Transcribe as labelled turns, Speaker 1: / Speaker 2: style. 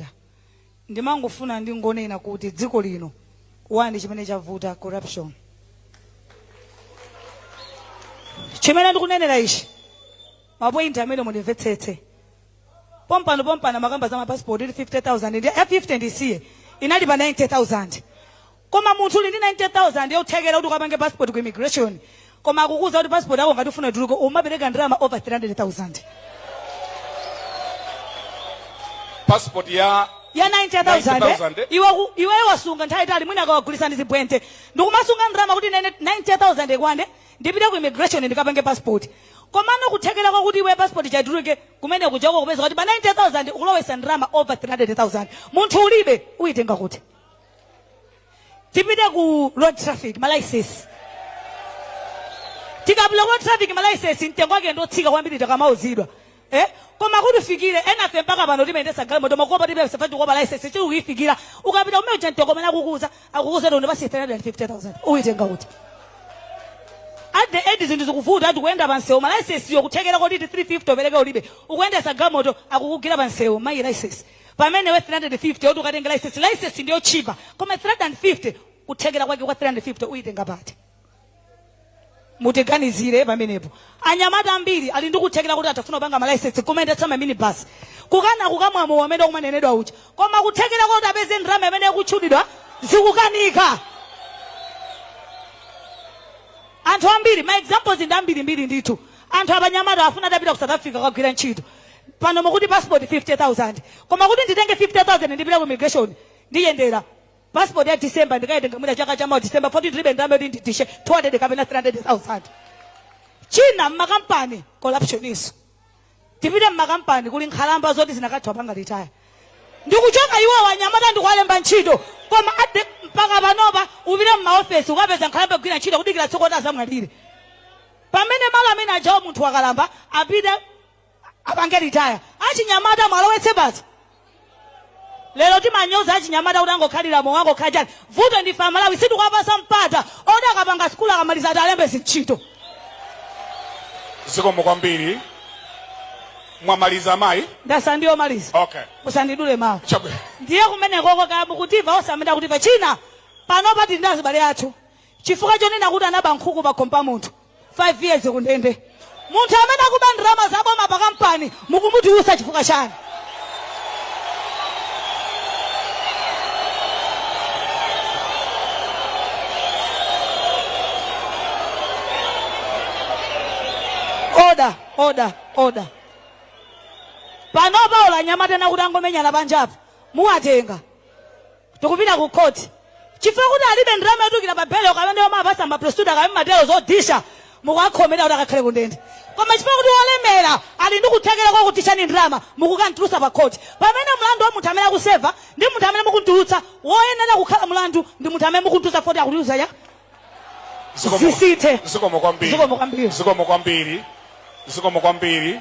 Speaker 1: Banda. Ndimangofuna ndingonena kuti dziko lino wani chimene chavuta corruption. Chimene ndikunenera ichi mapointi amene mundimvetsetse pompano pompano mumakamba za mapasipoti ili 50000 ndi ya 50 ndisiye inali pa 90000 Koma munthu uli ndi 90,000 yothekera kuti ukapange passport ku immigration koma akukuuza kuti passport yako ngati ufuna ituluke ukapereke ndalama over
Speaker 2: 300,000 passport ya ya 90,000 90,000, eh?
Speaker 1: iwe ku- iweyo wasunga nthawi yaitali mwina ukamagulisa ndi zibwente ndikumasunga ndalama kuti nene 90,000 ikwane ndipite ku immigration ndikapange passport komano kuthekera kwakuti iwe passport ikatuluke kumene kujako ukupeza kuti pa 90,000 ukulowesa ndalama over 300,000 munthu ulibe uyitenga kuti tipite ku road traffic malaisesi tikapita ku road traffic malaisesi mtengo wake ndotsika kwambiri takamauzidwa eh? koma kuti ufikire enafe mpaka pano timayendesa galimoto makopa tilibe kukopa laisesi sitikuifikira ukapita kumene kuja mtengo umene akukuuza akukuuza ndi basi 350000 uitenga kuti at the end zinthu zikuvuta ati kuyenda pansewu malaisesiyo kuthekera koti 350 upereke ulibe ukuyendesa galimoto akukugira pansewu malaisesi pamene iwe 350 oti ukatenge license license ndi yotchipa koma 350 kuthekera kwake kwa 350 uyitenga pati mutiganizire pamenepo anyamata ambiri ali ndi kuthekera kuti atafuna kupanga malicense kumayendetsa maminibasi kukana kukumwa mowa amene kumanenedwa uja koma kuthekera kuti apeze ndalama imene ikutchulidwa zikukanika anthu ambiri ma examples ndi ambirimbiri ndithu anthu anyamata afuna atapita ku south africa kukagwira ntchito pano mukuti passport 50000 koma kuti nditenge 50000 ndipita ku immigration ndiyendera passport ya december ndikaitenga mwina chaka chamawa december 14 ndilibe ndalama yoti ndidishe 200 kapena 300000 china mmakampani corruption-nso tipite mmakampani kuli nkhalamba zoti zinakatha kupanga retire ndikuchoka iwo anyamata ndikuwalemba ntchito koma at the- mpaka panopa upite mmaofesi ukapeza nkhalamba zikugwira ntchito kudikira tsiku kuti azamwalire pamene malo amene ajawo munthu wakalamba apite apange retire achinyamata muwalowetse basi lero timanyoza achinyamata kuti angokhalira mowa angokhala chani vuto ndife amalawi sitikuwapasa mpata oti akapanga sikulu akamaliza atawalemba zintchito
Speaker 2: zikomo kwambiri mwamaliza amayi ndasala pang'ono kumaliza
Speaker 1: okay
Speaker 2: musandidule mawu
Speaker 1: chabwino ndiye
Speaker 2: kumenekoko
Speaker 1: kaya mukutimva osangonena kutimva china panopa tili ndi azibale athu chifukwa chonena kuti anaba nkhuku pakhomo pa munthu 5 years kundende munthu amene akuba ndalama za boma pa kampani mukumutulutsa chifukwa chani oda oda oda panopa ola anyamata ndikuti angomenyana panjapo muwatenga tikupita ku court chifukwa kuti alibe ndalama yotulukira pa belo kapena yomawapatsa maprosecutor kapena matero zodyetsa mukuwakhomera kuti akakhale kundende koma chifukwa kuti wolemera ali ndi kuthekera kwa kudyetsani ndalama mukukamtulutsa pa court pamene mlandu wa munthu amene akuseva ndi munthu amene mukuntulutsa woyenera kukhala mlandu ndi munthu amene mukuntulutsa poti akutiuza ya Zikomo-
Speaker 2: Zisithe. zikomo kwambiri
Speaker 1: Zikomo kwambiri. zikomo kwambiri
Speaker 2: zikomo kwambiri